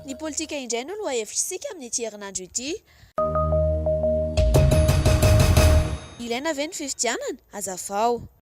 Ny politika indray no lohahevitr'isika amin'ity herinandro ity. Ilaina ve ny fifidianana? Hazavao.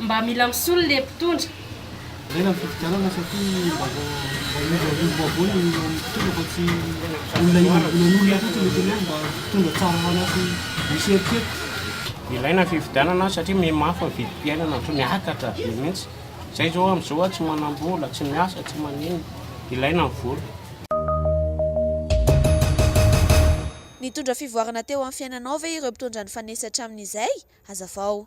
Mba mila misolo le mpitondra. Ilaina ny fifidianana satria mba vao mba hiova hiova vaovao ny eo amin'ny mpitondra fa tsy olona ilan'olona fotsiny ny tenenina mba mpitondra tsara hanasy misy eritreritra. Ilaina ny fifidianana satria mihemafy ny vidim-piainana otrany miakatra be mihitsy zay zao amzao a tsy manambola tsy miasa tsy maninona ilaina ny vola. Nitondra fivoarana teo amin'ny fiainanao ve ireo mpitondra nifanesy hatramin'izay? Hazavao.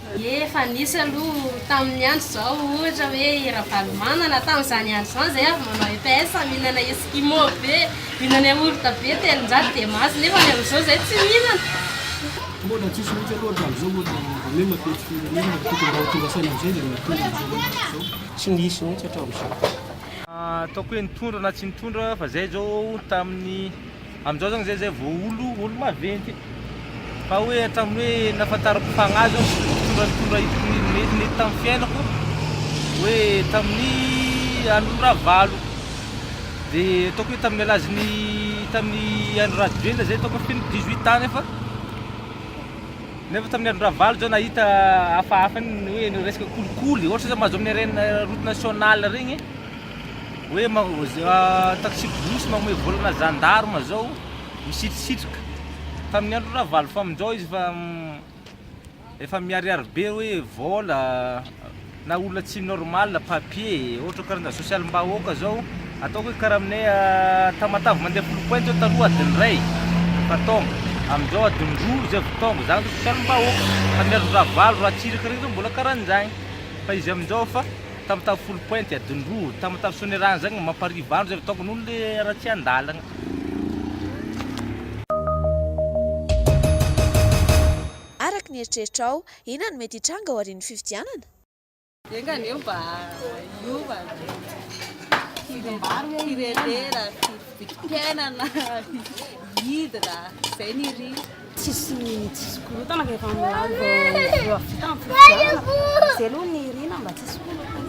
Ie efa nisy aloha tamin'ny andro izao ohatra hoe i Ravalomanana tamin'izany andro izany izay avy manao EPS mihinana eskimo be, mihinana yaourt be telonjato dia mahazo nefa ny amin'izao izay tsy mihinana. Mbola tsisy mihitsy aloha hatramin'izao mbola anie mampety firenena ary tokony mba ho tonga saina amin'izay izay mitondra amin'izao andro izao. Tsy nisy mihitsy hatramin'izao. Ataoko hoe nitondra na tsy nitondra fa izay izao tamin'ny Amin'izao zany zay zay vao olo olo maventy fa hoe hatramin'ny hoe nahafantarako fagnahy zao sy fitondra nitondra hitako ni- ni- nety tamin'ny fiainako hoe tamin'ny andron'i Ravalo de ataoko hoe tamin'ny alazin'ny tamin'ny andro Rajoelina zay ataoko hoe feno 18 ans nefa nefa tamin'ny andro Ravalo zao nahita hafahafa ny hoe ny resaka kolikoly ohatra zao mahazo amin'ny RN route nationale regny Hoe taxi-brousse manome vola ana gendarme zao misitrisitrika tamin'ny andron'i ravalofaminjao izy fa efa miharihary be hoe vola na olona tsy normal papier ohatra karazana sosialim-bahoaka zao ataoko hoe karaha aminay tamatave mandeha folo point zao taloha adin'ny iray efa tonga amin'izao adin'ny roa izay vao tonga zany zao sosialim-bahoaka tamin'ny andron'i ravalo ratsiraka reny zao mbola karaha an'izany fa izy amin'izao efa Tam tam folo pointy adiny roa tam tam sonerana zagny mamparivo andro zay ataoko noho le raha tsy andalagna. Araka ny eritreritrao, inona no mety hitranga aorian'ny fifidianana? Enga anie mba hiova firenena, fifidianana, hidina, zay ny ry. Tsisy tsisy korontana fa efa milaza vao vao vita ny fifidianana. Izay aloha ny irina mba tsisy korontana.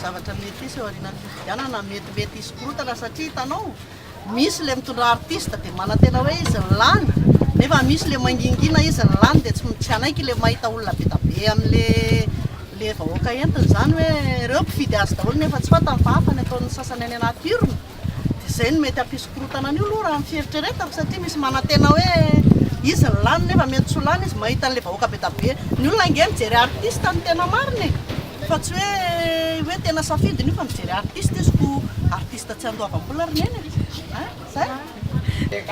zavatra mety hisy eo aorianan'ny fifidianana metimety hisy korontana satria hitanao misy ilay mitondra artiste dia manantena hoe izy ny lany nefa misy ilay mangingina izy ny lany dia tsy hanaiky ilay mahita olona be dia be amin'ilay vahoaka entiny izany hoe ireo mpifidy azy daholo nefa tsy fantany fa hafa ny ataon'ny sasany any anaty urne dia izay no mety hampisy korontana an'io aloha raha ny fieritreretako satria misy manantena hoe izy no lany nefa mety tsy ho lany izy mahita an'ilay vahoaka be dia be. Ny olona ange mijery artiste no tena marina e! Fa tsy hoe hoe tena safidiny io fa mijery artiste izy ko artiste tsy andoavam-bola ry neny e! Hein? Zay!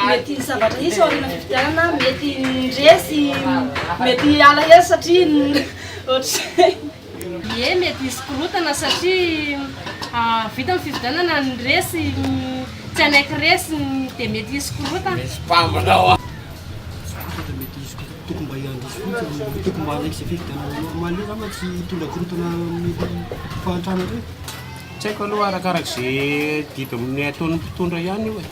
Mety hisy zavatra hisy ao aoriana fifidianana, mety ny resy mety alahelo satria ny ohatr'izay. Ie, mety hisy korontana satria vita ny fifidianana, ny resy tsy hanaiky resy dia mety hisy korontana. Zavatra mety hisy korontana, tokony mba handiso fotsiny, tokony mba hanaiky izay fifidianana normal eo angamba tsy hitondra korontana amin'ny fahantrana ireny. Tsy haiko aloha arakaraky izay didin'ny ataon'ny mpitondra ihany io e.